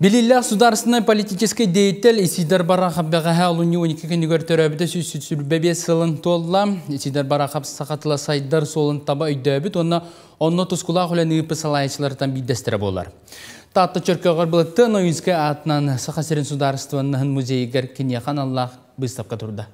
Билиллэх судаарыстыбаннай политический деятель Исидар Барахов бэҕэһээ олунньу 12 күнүгэр төрөөбүтэ сүүс сүүрбэ биэс сылын туолла. Исидар Барахов саха тыла сайдар суолун таба өйдөөбүт уонна онно тускулаах үлэн ыыппыт салайачыларыттан биирдэстэрэ буолар. Таатта Чөркөҕөр былытты Ноинскай аатынан Саха сирин судаарыстыбаннаһын музейыгар киниэхэ аналлаах быыстапка турда.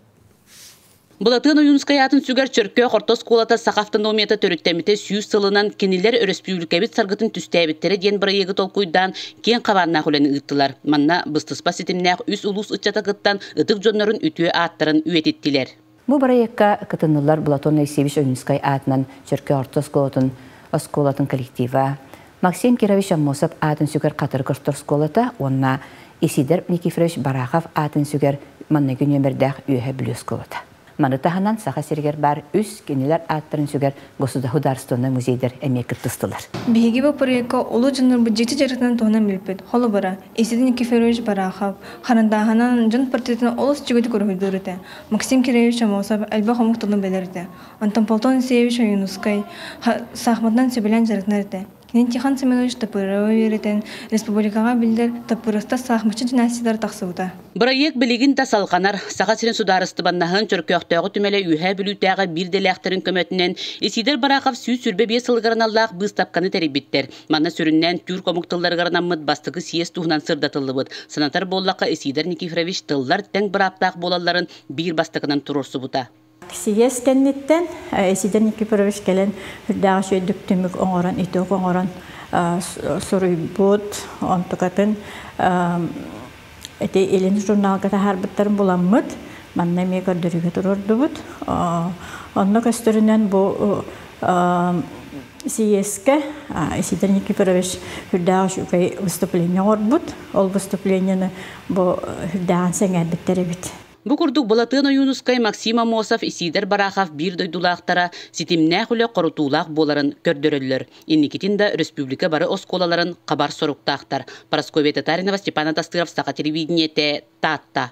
Былатыан Ойуунускайаатын сүгэр Чөркөөх орто оскуолата саха автономията төрүттэммитэ сүүс сылынан кинилэр өрөспүүбүлүкэбит саргытын түстээбиттэрэ диэн бырайыагы толкуйдаан киэҥ хабааннаах үлэни ыыттылар. Манна быстыспа ситимнээх үс улуус ыччата кыттан ытык дьоннорун үтүө ааттарын үйэтиттилэр. Бу бырайыакка кытыннылар Былатыан Айсиевич Ойуунускай аатынан Чөркөөх орто оскуолатын оскуолатын коллектива, Максим Кирович Аммосов аатын сүгэр Хатыр Кошторсколата уонна Исидор Никифорович Барахов аатын сүгэр манныгы нүөмэрдээх Үөһэ Блюсколата. Маны таһынан Саха сиригэр баар үс кинилэр ааттарын сүгэр государственнай музейдар эмиэ кыттыстылар. Биһиги бу проекка улуу дьоннорбут дьикти дьарыктарын туһунан билпит. Холобура, Исидор Никифорович Барахов харандааһынан дьон портретын олус үчүгэйдик уруһуйдуур этэ. Максим Кирович Аммосов элбэх омук тылын билэр этэ. Антонполтон Ансеевич Ойуунускай саахматынан сөбүлээн дьарыктанар этэ. Кини Тихон Семенович Тапырыава үөрэтэн, республикаҕа биллэр Таппырыстас саахматчы династиялара тахсыбыта. Бырайыак билигин да салҕанар. Саха сирин судаарыстыбаннаһын Чөркөөхтөөҕү түмэлэ Үөһээ Бүлүүтээҕи биир идэлээхтэрин көмөтүнэн Исиидэр Бараахап сүүс сүүрбэ биэс сылыгар аналлаах быыстапканы тэрийбиттэр. Манна сүрүннээн түүр омук тылларыгар анаммыт бастакы съезд туһунан сырдатыллыбыт. Санатар буоллахха, Исиидэр Никифорович тыллар тэҥ бырааптаах буолалларын биир бастакынан туруорсубута. Сийиэс кэнниттэн Сидор Никифорович кэлэн үрдээҕи үчүгэй түмүк оҥорон, итог оҥорон суруйбут, онтукатын ити илин журналга таһаарбыттарын буламмыт, манна эмиэ көрдөрүүгэ туруордубут. Онно көстөрүнэн бу сийиэскэ Сидор Никифорович үрдээҕи үчүгэй выступление оҥорбут. Ол выступлениены бу үрдээҕин сэҥээрбиттэр эбит. Бу курдук Былатыан Ойуунускай, Максим Амосов, Исиидэр Барахов биир дойдулаахтара ситимнээх үлэ хорутуулаах буоларын көрдөрөллөр. Инникитин да республика бары оскуолаларын хабар соруктаахтар. Парасковья Татаринова, Степан Атастыров, Саха телевидениете, Таатта.